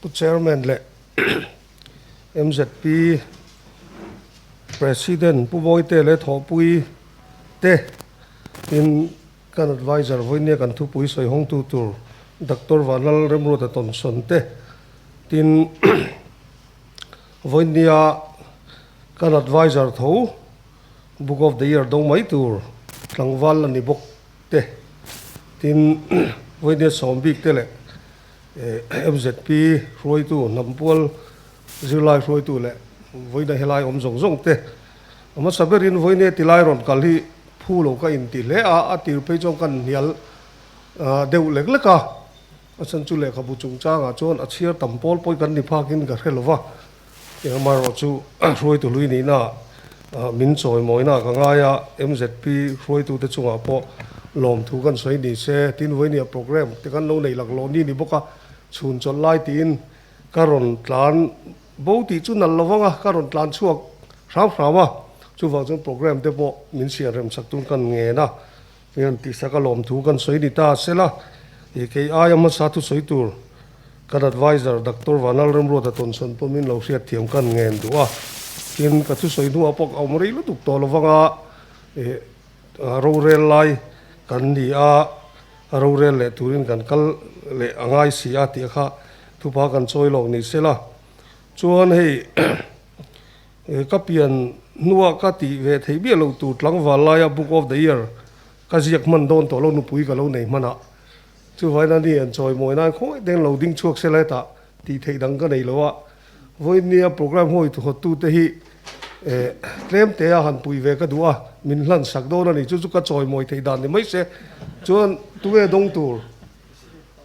Pu Chairman leh MZP President Pu Bawite leh Thawhpui te in kan Advisor Vawinia kan Thupui sawi hawngtu tur Doctor Vanlal Remruata tawnsawn te tin Vawinia kan Advisor tho Book of the Year dawng mai tur tlangval a ni bawk. te, tin, Vawinia Sawmbik te leh MZP hruaitu, Hnampual zirlai hruaitu leh Vawinia helai awm zawng zawng te hmasa berin Vawinia tilai rawn kal hi phu lo ka inti hle a, a tir phei chuan kan hnial deuh lek lek a, a chhan chu lehkhabu chungchangah chuan a chhiar tam pawl pawi kan ni phakin ka hre lova Engamarh chu hruaitu hlui nihna min chawi mawina ka ngai a, MZP hruaitute chungah pawh lawmthu kan sawi ni se, tin vawi nia programme te kan lo nei lak lawh ni ni bawk a, chhun chawlh lai tiin ka rawn tlan bo tih chu nal lo vang a, ka rawn tlan chhuak hrau hrau a, chuvang chuan programme te pawh min siam remchak tun kan ngen a, Hei an tih sak a lawm thu kan sawi ni ta a sela, ih kei aia hmasa thu sawi tur kan advisor Doctor Vanal Remruata tawnsawn pawh min lo hriat thiam kan ngen duh a, tin ka thusawi hnuah pawh ka awm rei lutuk tawh lovanga ih rorel lai kan ni a, rorel leh turin kan kal leh a ngai si a tih kha thupa kan chawi lawk ni sela, chuan hei He ka pian hnua ka tih ve theih miah lo tur tlangval laia Book of the Year ka ziak hman dawn tawh lo nupui ka lo nei hmanah chuvaina ni an chawi mawi nan khawi deng lo ding chhuak se lai tah tih theih dang ka nei lo a. Vawinia programme hawi thawttu te hi eh tlem te a han pui ve ka duh a, min hlan sak dawn a ni chu chu ka chawi mawi thei dan ni mai se. Chuan tunge dawng tur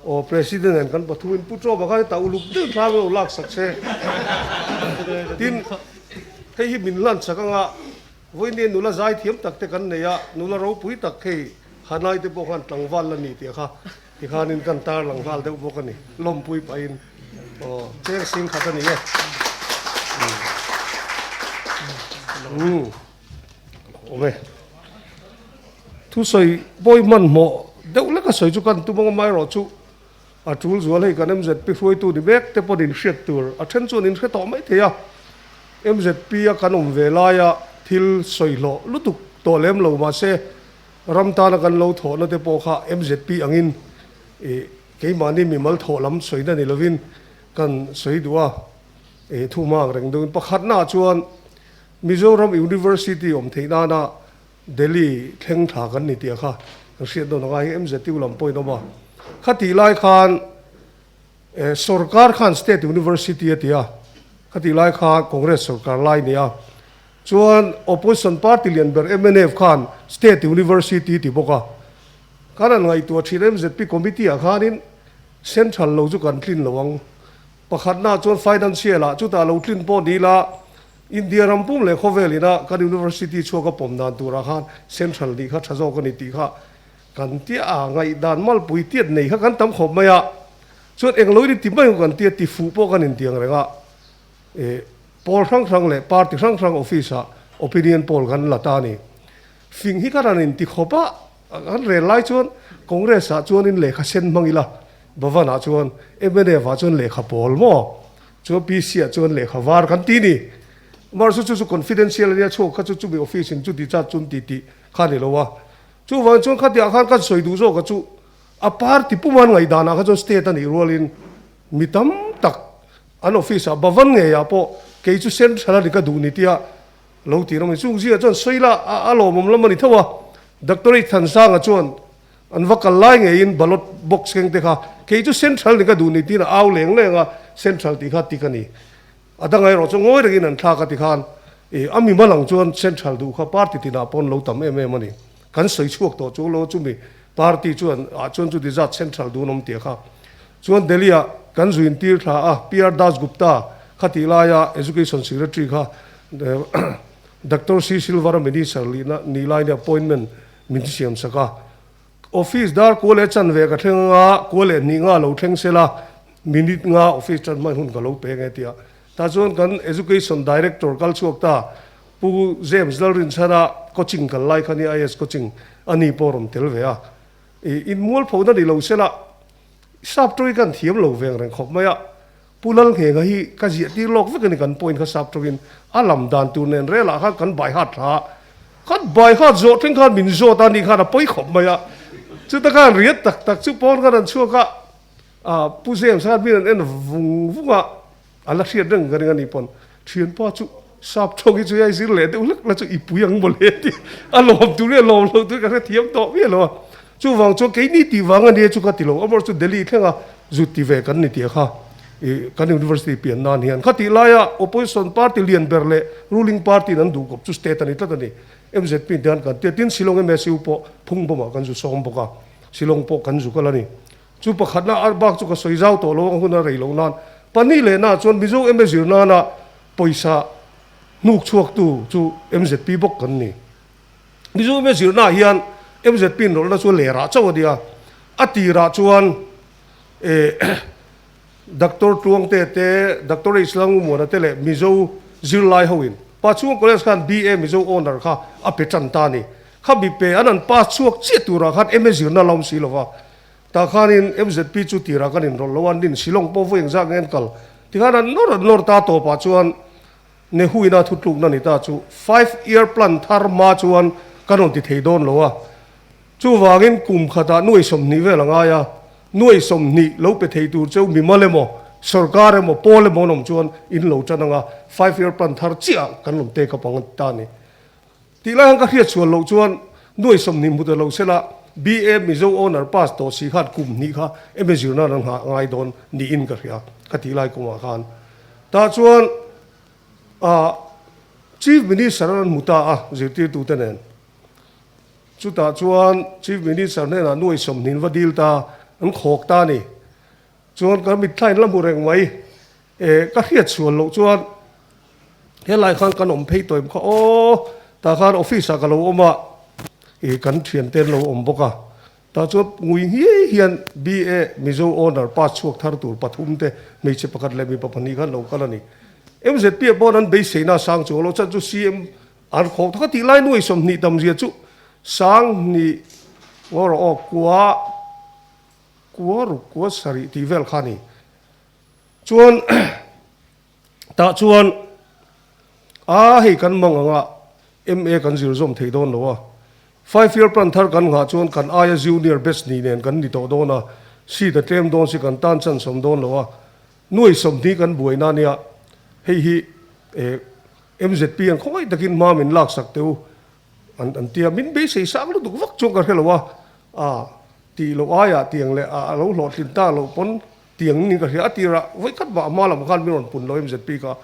Aw President hian kan pathum in Pu Chawba khan hetah uluk deuh thlang lo lak sak che tin hei hi min hlan sak anga vawinia nula zai thiam tak te kan nei a, nula ropui tak hei Hanai te pawh khan tlangval la ni tih kha tikhan in kan tarlang nghal deuh bawk a ni lawmpui paih in aw cheng sing khat a ni e. Awm e. Thu sawi bawi hmanhmawh deuh lek a sawi chu kan tum ang amah erawh chu a tul zual hei kan mzp hruaitu ni mek te pawhin inhriat tur a then chuan inhre tawh mai thei a. Mzp a kan awm ve laia thil sawihlawh lutuk tawh lem lo mahse ram tana kan lo thawh na te pawh kha mzp angin ih keimahni mimal thawh lam sawi na ni lovin kan sawi duh a. Ih thu hma ang reng deuhin pakhatnaah chuan Mizoram University awm theih nana Delhi thleng thla kan ni tia kha kan hriat dawn anga hei MZU lam pawhin awm a. Khatih lai khan eh sorkar khan state university atia, khatih lai kha Congress sorkar lai nia. Chuan opposition party lian ber MNF khan state university ati bawk a. Kan han ngaihtuah thin MZP committee ah khanin central lo chu kan tlin lo ang. Pakhatnaah chuan financial ah chutah lo tlin pawh ni la, India ram pum leh khawvel ina kan University chhuak a pawm dan turah khan Central nih kha tha zawk a ni tih kha kan tia a, ngaihdan malpui tiat nei kha kan tam khawp mai a, chuan englo in i ti mai ang kan tia ti fuh pawh kan intiang reng a, e poll hrang hrang leh party hrang hrang office ah opinion poll kan la ta a ni, fing hi khan an inti khawp a. Kan rel lai chuan Congress ah chuan in lehkha sen hmang ila, Bhavan ah chuan, MNF ah chuan lehkha pawl maw, chuan PC ah chuan lehkha var kan ti ni. Mahse chu chu confidential ania chhuak kha chu chumi office in chu discharge chu an ti tih kha a ni lo a. Chuvangin chuan khatiang khan kan sawi duh zawk ah chu a party puma an ngaihdan ah kha chuan state a nih rual in mi tam tak an office ah Bhavan ngei ah pawh kei chu central a ni ka duh ni tia Lo ti rawh mai chu Uzia chuan sawi la a a lawmawm lam a ni tho a, Doctorate Thansanga chuan an va kal lai ngeiin ballot box keng te kha kei chu Central ni ka duh ni tiin a au leng leng a, Central tih kha tik a ni. A dang erawh chu ngawi rengin an thlak a ti khan, e a mi hma lang chuan Central duh kha party tinah pawn lo tam em em a ni. Kan sawi chhuak tawh chu law chumi party chuan ah chuan chu dessert central dun awm tia kha chuan Delhi ah kan zui intir thla a PR Das Gupta kha tih lai a Education Secretary kha Doctor C Silver a Minister lihna nih lai nia appointment min siam sak a Office dar kua leh chan ve ka thleng anga kua leh hnih nga lo thleng sela minute nga office tan hman hun ka lo peng e tia Tah chuan kan Education Director kal chhuak ta Pu James Lalrinchhara coaching kal lai khan hi IS coaching a ni pawh a rawn tel ve a. I inmual phona ni lo se lah, sap tawh i kan thiam lo veng reng khawp mai a. Pu Lalnghengha hi ka ziah tir lawk vek a ni, kan point kha sap tawh in a lam dan tur nen rel ah khan kan baihat thla a. Kan baihat zawh then khan min zawt a nih khan a pawi khawp mai a. Chuta khan riat tak tak chu pawn khan an chhuak a. A Pu Zem sat min an en vung vung a, a la hriat reng ka ring a ni pawn. Thianpa chu sap thawk hi chu hei zir leh deuh hlek la chu i pui ang maw le tih a lawm tur hi a lawm lo tur ka hre thiam tawh miah lo a. Chuvang chuan kei ni tih vang a nia chu ka ti lo, amaherawhchu Delhi thlenga zut ti ve kan ni tia kha i kan University pian nan hian khatih laia Opposition Party lian ber leh Ruling Party in an duh kawp chu State a ni tlat a ni. Mzp te hian kan tia tin Shillong MSU pawh phung bawmah kan zu sawm bawk a, Shillong pawh kan zu kal a ni. Chu pakhatna ar bak chu ka sawi zau tawh lo a hun a rei loh nan pahnih leh na chuan Mizo MA zir nan a pawisa hnuk chhuak tu chu mzp bawk kan ni. Mizo MA zir na hian mzp in rawlh na chu a leh rah chauh a nia. A tirah chuan Doctor Tluangte te, Doctor H Langumuana te leh Mizo zirlai ho in pa chhunga college khan BA Mizo Honour kha a pe tan ta a ni. Kha bipe an an pass chhuak chiah turah khan MA zirna la awm si lova, tah khanin MZP chu tirah kan inrawlh lo a, nin Shillong pawh vawi engzah nge an kal? Tikhan an nawr an nawr ta tawpah chuan Nehuina thutlukna ni ta chu Five Year Plan thar hma chuan kan rawn ti thei dawn lo a, chuvangin kum khatah nuai sawmhnih vel a ngai a, nuai sawmhnih lo pe thei tur cheu mimal emaw, sorkar emaw, pawl emaw an awm chuan in lo tan anga Five Year Plan thar chiah kan rawn take up ang a ni ta a ni. Tih lai ang ka hriat chhuah loh chuan nuai sawmhnih hmu ta lo sela BA Mizo Honour Pass tawh si khat kum hnih kha emaw zirna ran nghah ngai dawn niin ka hria ka tih lai kawngah khan. Tah chuan ah Chief Minister a ran hmu ta a zirtirtu te nen. Chutah chuan Chief Minister hnenah nuai sawmhnih in va deal ta, an khawk ta a ni. Chuan kan mitthlain la hmu reng mai e, ka hriat sual loh chuan helai khan kan awm phei tawim kha aw, tah khan office ah ka lo awm a, ih kan thian te an lo awm bawk a, tah chuan ngui ngiai hian BA Mizo Honour pass chhuak thar tur pathum te hmeichhe pakhat leh mipa pahnih khan lo kal a ni. MZP ah pawh an beiseina a sang chuang lo, chhan chu CM an khawng thawk a tih lai nuai sawm hnih tam zia chu sang hnih ngawrawh aw kuah. Kua ruk kua sarih tih vel kha ni. Chuan tah chuan a hei kan mang anga MA kan zir zawm thei dawn lo a. Five year plan thar kan nghah chuan kan aia junior batch hnih nen kan ni tawh dawn a, seat a tlem dawn si kan tan chanchawm dawn lo a. Nuaihsawm hni kan buai na nia hei hi eh MZP-an khawmai takin hma min laksak teu An an tia min beisei sang lutuk vak chuan ka hre lo a, ah tih loh aiah tiang leh ah a lo hlawhtlin ta loh pawn tiang in ka hria a tirah vawi khat mah a hma lamah khan min rawn pun lo em zet bik a.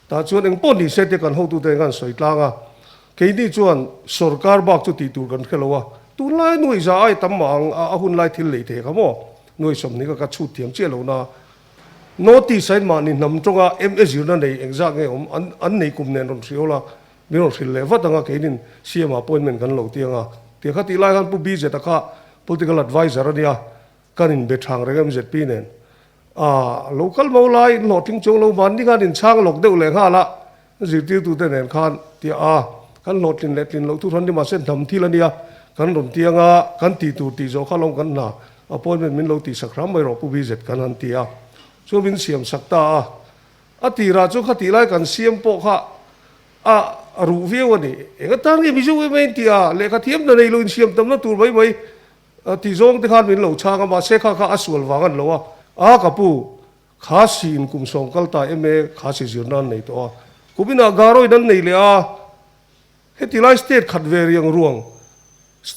Tah chuan eng pawh ni se tia kan hotu ten khan sawi tlang a, keini chuan sorkar bak chu tih tur kan hre lo a, tunlai nuaihza ai tam mah ang a hun lai thil lei thei kha maw nuaihsawm ni kha ka chhut thiam chiah lohna a notice a in mah ni hnam tawng a em e zirna nei engzah nge awm an an nei kum nen rawn hriaul a, Min rawn hrilh leh vat ang a, keinin CM appointment kan lo tiang a, ti a kha tih lai khan Pu BZ a kha Political Advisor a nia, kan in be thang reng MZP nen. Aah, lo kal mo lai, in hlawh thing chawng lo van ni khan in chhang lawk deuh leh nghal a, zirtirtu te nen khan, ti a, kan hlawh tlin leh tlin loh thu hran ni mah se hnam thil a nia, kan rawn tiang a, kan ti tur tih zawh kha lawm kan hna, appointment min lo tihsak hram mai rawh Pu BZ kan han ti a, chuan min siam sak ta a, A tirah chuan khatih lai kan siam pawh kha a ruh viau a ni. Enga tan nge Mizo em a intia, lehkha thiamna nei lo insiamtamna tur mai mai tih zawng te khan min lo chhang a, mahse kha kha a sual vang a ni lo a. A ka pu, kha si in kum sawm kal ta em e, kha si zir nan nei tawh a, kum inah garoi nan nei leh a. Heti lai state khat ve riang ruang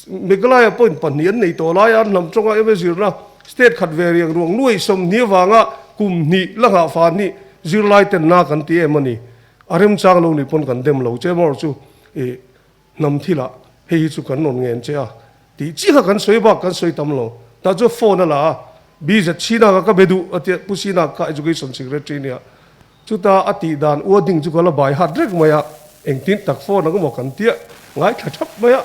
Meghalaya point pahnih an nei tawh lai a, hnam tawnga ema zirna state khat ve riang ruang nuaih sawmhnih avanga kum hnih la nghah fa hnih zirlai ten na kan ti em a ni. A remchang lo ni pawn kan dem lo che emaw chu i hnam thila hei hi chu kan rawn ngen che a tih chiah kha kan sawi bak kan sawi tam lo. Tah chuan phone a la a, BZ Sinaka ka be duh a tia Pu Sinaka kha Education Secretary nia. Chuta a tih dan Ua Ding chu ka la baihat rek mai a, engtin tak phone ang emaw kan tia ngaithla thap mai a,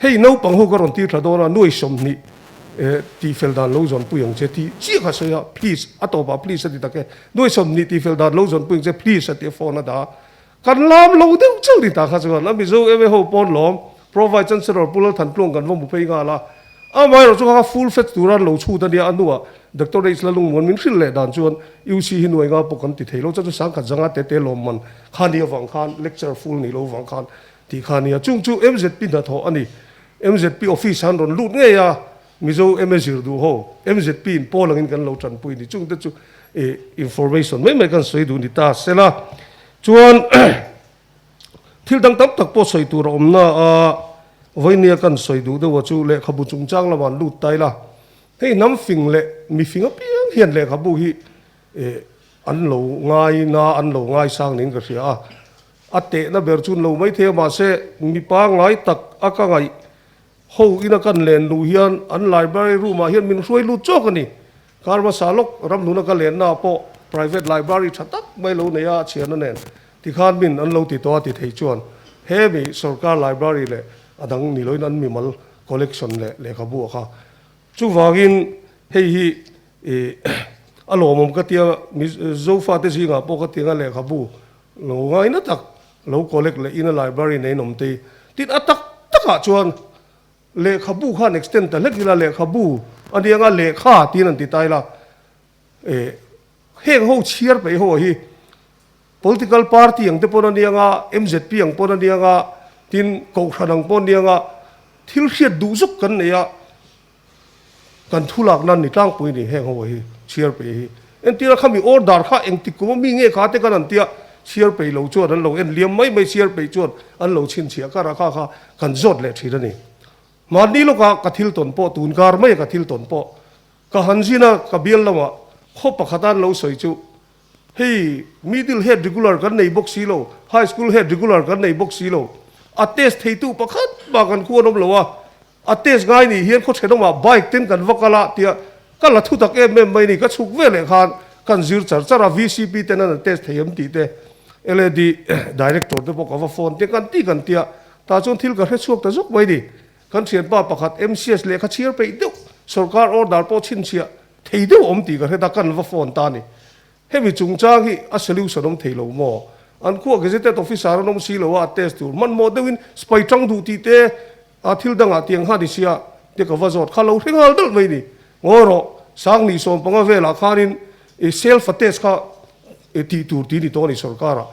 hei naupang ho ka rawn tirtha dawn a, nuaih sawmhnih eh tihfel dan lo zawnpui ang che tih chiah ka sawi a, please a tawpah please a ti tak e, nuaih sawmhnih tihfel dan lo zawnpui ang che please a ti a phone a dah a, Kan lam lo deuh chauh ni ta kha chuan a Mizo MA ho pawn lawm, Provide Chancellor Pu Lalthan Tluang kan va hmu phei nghal a. Amaherawhchu kha kha full fat tura an lo chhut a nia a hnuah Doctor H Lalung Muan min hrilh leh dan chuan UC hi nuai nga pawh kan ti theilo chuan chu sangkhat zanga te te lawm man kha nia vang khan lecture full ni lo vang khan tih kha nia chung chu mzp hnathawh a ni mzp office ah an rawn lut ngei a Mizo MA zir duh haw, MZP in pawl angin kan lo tan pawh i ni, chungte chu information mai mai kan sawi duh ni ta sela chuan thil dang tam tak pawh sawi tur a awm na a vawini a kan sawi duh deuha chu lehkhabu chungchang lamah an lut ta ila hei hnam fing leh mifing apiang hian lehkhabu hi an lo ngai na an lo ngai sang niin ka hria a, a tehna ber chu an lo maithei a mahse mipa ngai tak a ka ngaih Ho in a kan len luh hian an library room ah hian min hruai lut chawk a ni. Karmasa lawk ramhlun a ka len naah pawh private library tha tak mai lo nei a a chhian a nen tikhan min an lo ti tawh a ti thei chuan hemi sorkar library leh a dang ni loin an mimal collection leh lehkhabu a kha. Chuvangin hei hi a lawmawm ka tia Mizofate zingah pawh ka ti anga lehkhabu lo ngaina tak Lo collect leh ina library neihnawm te tin a tak takah chuan lehkhabu khan extend ta hlek ila lehkhabu a ni anga lehkha tiin an ti ta ila eh heng ho chhiar peih ho hi political party ang te pawn a ni anga mzp ang pawn a ni anga tin kohhran ang pawh a ni anga thil hriat duh zuk kan nei a Kan thu lakna an ni tlangpui ni heng ho hi chhiar pe hi. Entir a kha mi awr dar kha engtik kum a mi nge kha te kan an tia chhiar pei lo chuan an lo en liam mai mai chhiar pei chuan an lo chhin chhiah kar a kha kha kan zawt leh thin a ni. Mahni lawka ka thil tawn pawh tun kar mai a ka thil tawn pawh ka han zin a ka bial lamah khaw pakhata an lo sawi chu Hei middle head regular kan nei bawk si lo, high school head regular kan nei bawk si lo. A test theitu pakhat mah kan khu an awm lo a, a test ngai nih hian khaw then awmah bike ten kan va kal a tia ka la thutak em em mai ni, ka chhuk ve leh khan kan zir char char a, VCP ten an an test thei em tih te LAD director te pawh ka va phone tir kan ti kan tia tah chuan thil ka hrechhuak ta zawk mai ni, kan thianpa pakhat MCS lehkha chhiar peih deuh sawrkar order pawh chhinchhiah Thei deuh awm tih ka hre ta, kan va phone ta a ni. Hemi chungchang hi a solution awm thei lo maw? An khuaa Gazetted Officer an awm si lo a, a test tur hmanhmawh deuhin spai tang duh tih te a thil dangah tiang han i si a, te ka va zawt kha, lo hre nghal dalh mai ni. Ngawi rawh, Sangni sawm panga velah khanin i self attest kha i tih tur ti ni tawh a ni sorkara,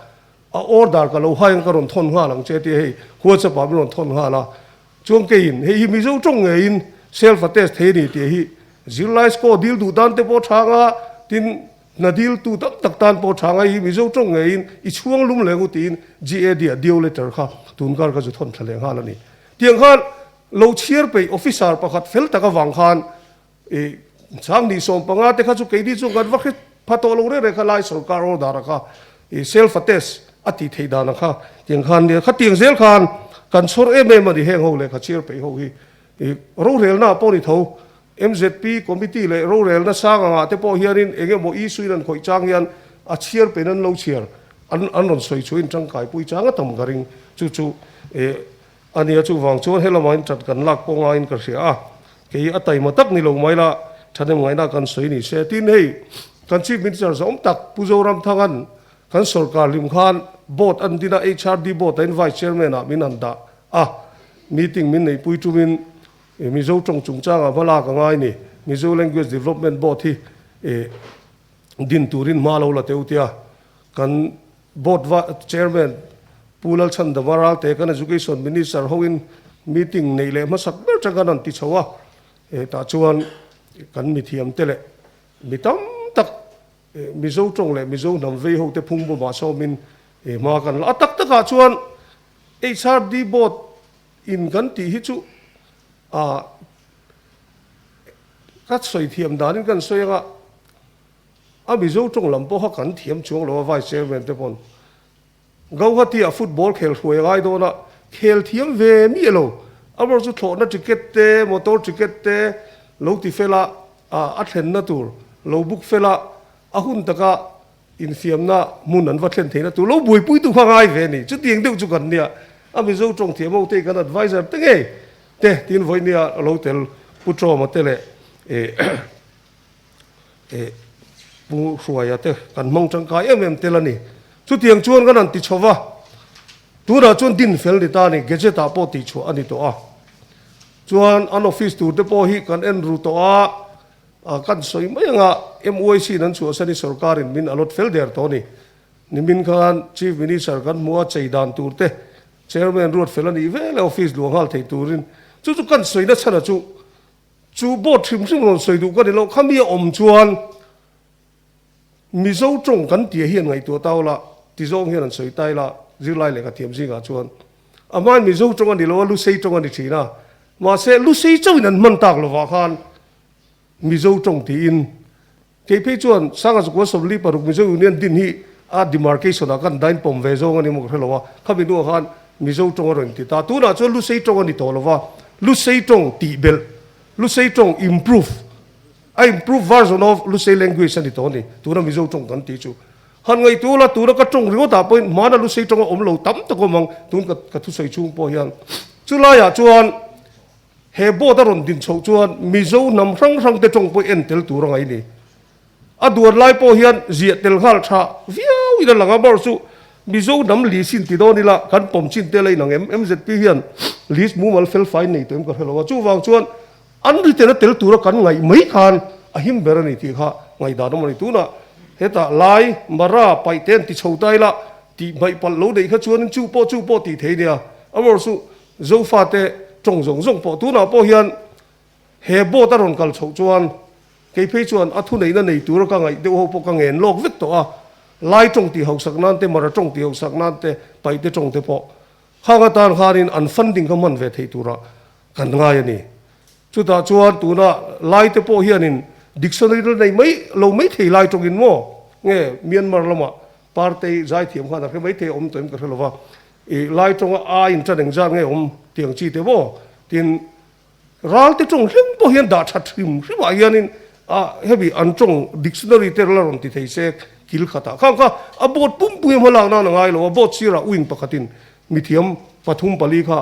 a order ka lo hai ang ka rawn thawn nghal ang che a ti a, hei Whatsapp ah min rawn thawn nghal a. Chuan keiin, hei hi mizo tawng ngeiin self attest thei a ni tih hi zirlai score dil duh dan te pawh a tha ang a, tin, hna dil tu tam tak tan pawh a tha ang a, hei hi mizo tawng ngeiin i chhuang lum leh ngut tiin GAD a dio letter kha tun kar ka zu thawn thla leh nghal a ni. Tiang khan lo chhiar peih officer pakhat fel tak avang khan I sang ni sawm panga te kha chu keini chu ngat va hre pha tawh lo reng reng kha lai sawrkar aw dara kha i self attest a tih theih dan ang kha tiang khan nia khatiang zel khan kan chhawr em em a ni heng ho leh kha chhiar peih ho hi i rorelna ah pawh ni tho mzp committee leh rorelna sang angah te pawh hian in eng emaw issue in an khawih chang hian a chhiar peihna an lo chhiar an an rawn sawi thuin tangkai pui chang a tam ka ring chu chu i A nia chuvang chuan helamain ṭan kan lak pawh ngaiin ka hria a, kei a taima tak ni lo mai la, ṭhanem ngaihna kan sawi ni se. Tin, hei kan Chief Minister zawm tak Pu Zoramthanga'n kan sawrkar hlim khan board an din a, HRD board ahin Vice Chairman-a min han dah a, meeting min neih pui ṭumin Mizo ṭawng chungchangah hma lak a ngai ni, Mizo Language Development Board hi din turin hma lo la teuhtia kan Board Vice Chairman Pu Lalchhan Dava Ralte kan Education Minister hoin meeting neih leh hmasak ber ṭang kan rawn ti chho a, hetah chuan kan mithiamte leh mi tam tak Mizo ṭawng leh Mizo hnam vei ho te phung bawmah sawmin hma kan la a. A tak takah chuan HRD Board in kan tih hi chu a ka sawi thiam danin kan sawi anga, A Mizo tawng lam pawh kha kan thiam chuang lo a Vice Chairman te pawn. Gauhatia football khel hruai a ngai dawn a, khel thiam ve miah lo. A ber chu thlawhna ticket te, motor ticket te lo ti fel a, a thlenna tur lo book fel a, a hun taka infiamna hmun an va thlen theihna tur lo buaipui tu kha a ngai ve a ni. Chutiang deuh chu kan nia, a Mizo tawng thiamo tein kan advisor te nge te? tiin Vawinia lo tel Pu Tawma te leh Pu Hruaia te kan hmang tangkai em em tel a ni. Chutiang chuan kan han ti chho va, tunah chuan din fel ni ta a ni, Gazette ah pawh tihchhuah a ni tawh a. Chuan an office tur te pawh hi kan en ru tawh a, kan sawi mai anga MUIC in an chhuah se a ni, sorkar in min a lawt fel der tawh a ni. Nimin khan Chief Minister kan hmu a, chei dan tur te, Chairman ruat fel a nih vel a, office luah nghal thei turin chu chu kan sawi nachhana chu, Chu boat hrim hrim rawn sawi duh ka ni lo, khami a awm chuan Mizo tawng kan tia hian ngaihtuah ta aw la ti zawng hian an sawi ta ila, zirlai leh ka thiam zingah chuan a hmain Mizo tawng a ni lo a, Lusei tawng a ni thin a, mahse Lusei chauhin an hman tak lovah khan Mizo tawng tiin Kei phei chuan Sanga Zakual Sawmli Paruk Mizo Union din hi a demarcation ah kan dain pawm ve zawng a ni maw ka hre lo a, khami hnungah khan Mizo tawng a rawn inti ta. Tunah chuan Lusei tawng a ni tawh lova, Lusei tawng tihbelh, Lusei tawng improve, a improve version of Lusei language a ni tawh a ni, tuna Mizo tawng kan tih chu. Han ngaihtuah ula, tuna ka tawng ringawtah pawhin hmana Lusei tawng a awm lo tam tak awm ang, tun ka thusawi chhung pawh hian. Chulaiah chuan. He boat a rawn din chhoh chuan Mizo hnam hrang hrang te tawng pawh en tel tur a ngaih ni. A duar lai pawh hian ziah tel nghal tha viau in a lang a, bar chu Mizo hnam lease in ti dawn ila kan pawm chin tel a inang em? MZP hian lease mumal fel fai nei tawh em ka hre lo a, chuvang chuan an retail a tel tura kan ngaih mai khan a him ber a ni tih kha ngaihdan awm a ni. Tunah hetah Lai, Mara, Paihte an ti chho ta ila tih hmaihpalh lo neih kha chuan chu pawh chu pawh tih thei nia, a bar chu Zofate tawng zawng zawng pawh tunah pawh hian he boat a rawn kal chhoh chuan kei phei chuan a thuneihna nei tur ka ngaih deuh ho pawh ka ngen lawk vek tawh a, lai tawng ti hausak nan te, mara tawng ti hausak nan te, paihte tawng te pawh khanga tan khanin an funding ka hman ve thei tura kan ngai a ni. Chutah chuan tuna lai te pawh hianin dictionary la nei mai lo mai thei lai tawngin maw nge Myanmar lama par te hi zaithiam khan a hre mai thei a awm tawh em ka hre lova, I lai tawnga aa inṭaneng zar nge awm tiang chi te maw? Tin, ralte ṭawng hlim pawh hian dah ṭhat hrim hrimah hianin a hemi an ṭawng dictionary te la rawn ti thei se kil khatah khan kha a boat pumpuia hma lak nan a ngai lo a, boat sirah wing pakhatin mithiam pathum pali kha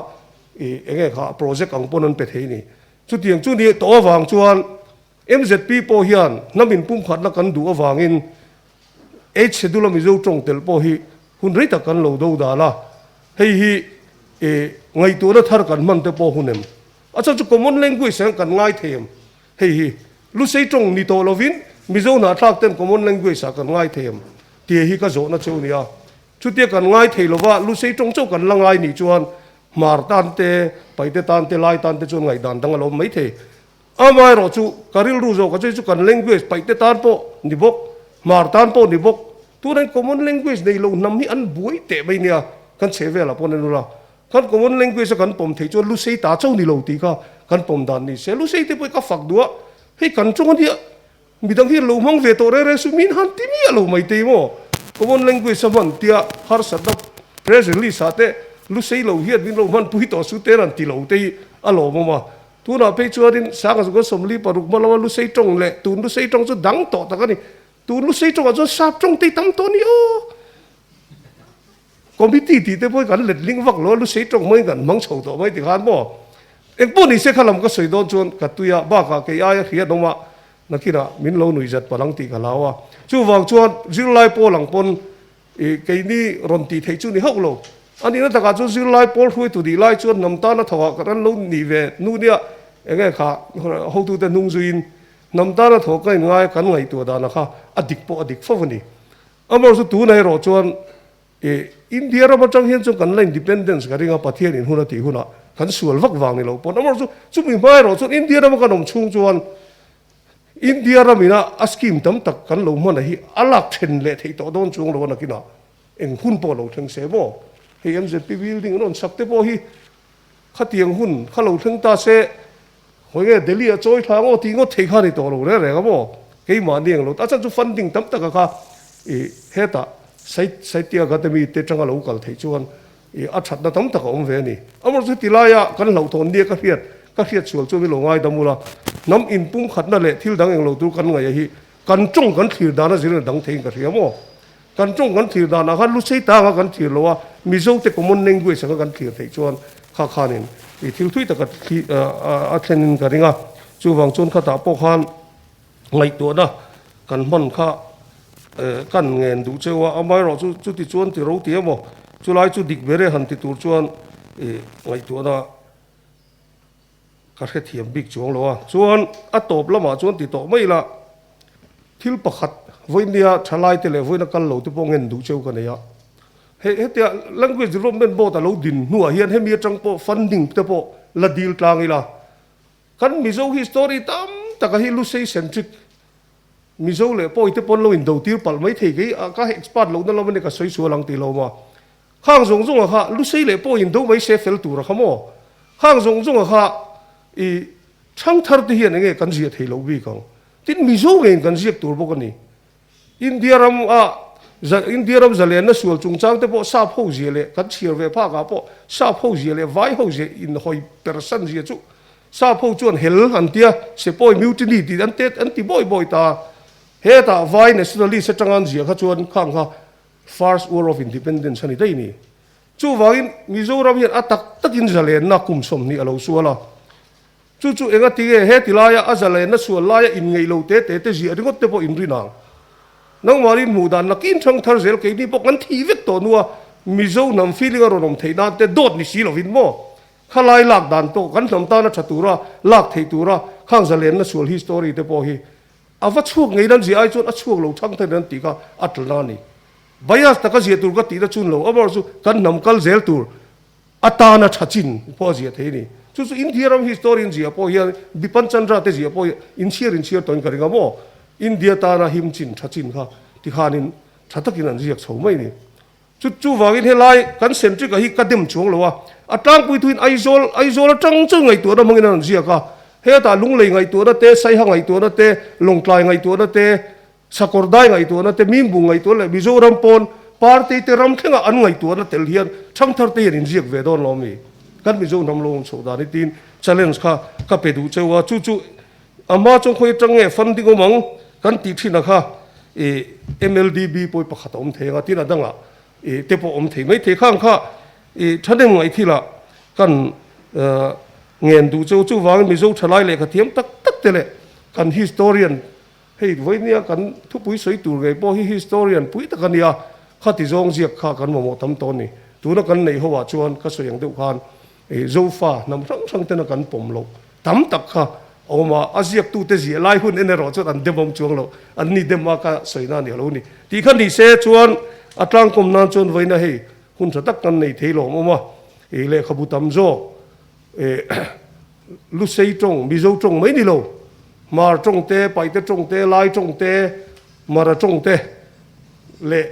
i eng nge kha project ang pawn an pe thei a ni. Chutiang chu nih tawh avang chuan Mzp pawh hian hna min pumkhatna kan duh avangin eight schedule a Mizo tawng telh pawh hi hun rei tak kan lo do dan a, hei hi ngaihtuahna thar kan hman te pawh hun em? A chhan chu common language ah hian kan ngai thei em? Hei hi Lusei tawng ni tawh lovin Mizo hnahthlak ten common language ah kan ngai thei em? Tia hi ka zawhna cheu ni a, chutia kan ngai thei lova Lusei tawng chauh kan la ngai nih chuan hmar tan te, paite tan te, lai tan te chuan ngaihdan dang a lo awm maithei. Amah erawh chu ka rilru zawk a chei chu kan language paihte tan pawh ni bawk, hmar tan pawh ni bawk. Turin common language nei lo hnam hi an buai teh mai nia kan chhe velah pawn a ni lo. Khan common language a kan pawm theih chuan lu sei ta chauh ni lo tih kha kan pawm dan ni se. Lu sei te pawh i ka fak duh a, hei kan chunga nia Midang hi an lo hmang ve tawh reng reng chu min han ti mi a lo mai te emaw? Common Language-a hman tia harsatna press release-ah te lu sei lo hian min lo hman pui tawh chu te ran ti lo te hi a lawm awm a. Tunah phei chuanin Sanga Zukna Sawmli paruk hma lama lu sei tawng leh tun lu sei tawng chu dang tawh tak a ni. Tun lu sei tawngah chuan sap tawng te hi tam tawh a ni aw. Committee tih te pawhin kan let hling vak lo a, lu sei tawng maiin kan hmang chho tawh mai tikhan maw? Engpawh nise kha lam ka sawi dawn chuan ka tui a, bakah kei aia hriat awm a, nakinah min lo nui zat palh ang tih ka hlau a. Chuvang chuan zirlai pawl ang pawn i keini rawn tih theih chu ni hauh lo. A nihna takah chuan zirlai pawl hruaitu nih lai chuan hnam tana tho ah kan han lo nih ve hnu nia, eng nge kha hotute hnung zuiin hnam tana tho ka inngai a kan ngaihtuah dan a kha a dik pawh a dik fo a ni. Amaherawh chu tunah erawh chuan i India ram atang hian chuan kan la independence ka ring a, Pathian in hun a tih hunah kan sual vak vang ni lo pawn. Amaherawh chu chumi hma erawh chuan India rama kan awm chhung chuan India ram ina a scheme tam tak kan lo hmanah hi a lak then leh theih tawh dawn chuang lo a nakin a eng hun pawh a lo thleng se maw? Hei mzp building an rawn chhak te pawh hi khatiang hun kha lo thleng ta se. Hawi nge Delhi a chawi thla ngaw tih ngawt thei kha ni tawh lo reng reng a maw? Keimahni englo ta chuan chu funding tam taka kha i heta Sahitya Akademi te tanga lo kal theih chuan i a thatna tam tak a awm ve a ni. Amaw chu ti laia kan hlauhthawn nia ka hriat ka hriat sual chuan i lo ngaidam ula hnam in pumkhatna leh thil dang englo tur kan ngaih a hi Kan tawng kan thlir dan a zirna dang theiin ka hria maw? Kan tawng kan thlir danah khan Lusei tanga kan thlir lo a, Mizo te common language anga kan thlir theih chuan kha khanin ih thil thui taka a thlenin ka ring a, chuvang chuan khatah pawh khan ngaihtuahna kan hman kha kan ngen duh cheu a, amaherawh chu chuti chuan ti ro ti emaw chulai chu dik ber e han ti tur chuan ih ngaihtuahna. Ka hrethiam bik chuang lo a. Chuan a tawp lamah chuan ti tawh mai ila, Thil pakhat, vawinia thalaite leh vawiina kal lo te pawh ngen duh cheu ka nei a. He, hetia Language Development Board a lo din hnuah hian hemi atang pawh funding te pawh la dil tlang ila, kan Mizo hi story tam taka hi Lusei centric, Mizo leh Pawi te pawh an lo in do tir palh mai thei, kei a ka expert lohna lam ania ka sawi sual ang ti hlawm a. Khang zawng zawnga kha lusei leh pawh in do mai se fel tur a kha maw? Khang zawng zawnga kha i chhang thar te hian enge kan ziah thei loh bik ang? Tin Mizo nge in kan ziak tur bawk a ni. India ram a za India ram zalenna sual chungchang te pawh sap ho zia leh kan chhiar ve phak ah pawh sap ho zia leh vai ho zia in hawi per san zia chu sap ho chuan hel an tia sepoy mutiny tih an te an ti bawi bawi ta. Hetah vai nationalist atangan zia kha chuan Khang kha First War of Independence a ni daih ni. Chuvangin Mizoram hian a tak takin zalenna kum sawmhnih a lo sual a. Chu chu engati nge he tilaia a zalenna sual laia inngeihlo te te te ziah ringawt te pawh in rin ang. Nangmahni hmuh dan na kin thang thar zel keini pawh kan thih vek tawh nua Mizo hnam feeling a rawn awm theih nan te dawt ni si lovin maw? Khalai lak dan tawh kan hnam tana tha tura lak theih tura khang zalenna sual hi story te pawh hi A va chhuak ngei nan zia ai chuan a chhuak lo thang thangin an tih kha a tla na a ni. Bias taka ziah tur ka tihna chu lo awm erawh chu kan hnam kal zel tur atana tha chin pawh a ziah thei a ni. Chu chu India ram history in ziah pawh hian Bipan Chandra te ziah pawh hi inchhiar inchhiar tawhin ka ring a maw India tana him chin tha chin kha tikhanin tha takin an ziak chho mai a ni. Chu chu vangin helai kan centric a hi ka dem chuang lo a, a tlangpui thuin Aizawl Aizawl atang chuan ngaihtuahna hmangin a rawn ziak a, hetah lunglei ngaihtuahna te, saiha ngaihtuahna te, lawngtlai ngaihtuahna te, sakawrdai ngaihtuahna te, mimbung ngaihtuahna leh Mizoram pawn party te ram thlengah an ngaihtuahna tel hian thangthar te hian inziak ve dawn lo a mi kan Mizo hnam lohawm chhoh dan hi tiin challenge kha ka pe duh cheu a, chu chu Amah chuan khawi atang nge fund ding awm ang kan tih thinah kha ih MLDB pawh i pakhat a awm thei ang a, tin a dangah ih te pawh awm thei mai thei khang kha ih thahnem ngaihkhila kan ngen duh cheu. Chuvangin Mizo thalai lehkha thiam tak tak te leh kan historian hei vawihnia kan thupui sawi tur ngei pawh hi historian pui tak a nia, khati zawng ziak kha kan mamawh tam tawh a ni. Tuna kan neih ho ah chuan ka sawi ang deuh khan. Ih Zofa hnam hrang hrang ten a kan pawm loh tam tak kha a awm a, a ziak tu te ziah lai hun en erawh chuan an demawm chuang loh, an ni dem a ka sawi na a ni a lo ni tih kha ni se chuan a tlangkawm nan chuan vawiina hei hun tha tak kan nei thei lawm awm a, ih lehkhabu tam zawk ih Lusei tawng, Mizo tawng mai ni lo, Hmar tawng te, Paite tawng te, Lai tawng te, Mara tawng te leh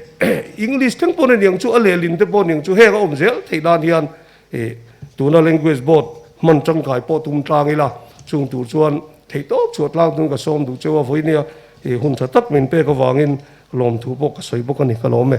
English thleng pawn a niang chu a lehlin te pawh a niang chu heng a awm zel thei nan hian Ih, tuna Language Board hman tangkai pawh tum tlang ila, chung tur chuan theihtawp chhuah tlang tum ka sawm duh che a vawinia, ih, hun tha tak min pek avangin lawmthu pawh ka sawi bawk a ni ka lawm e.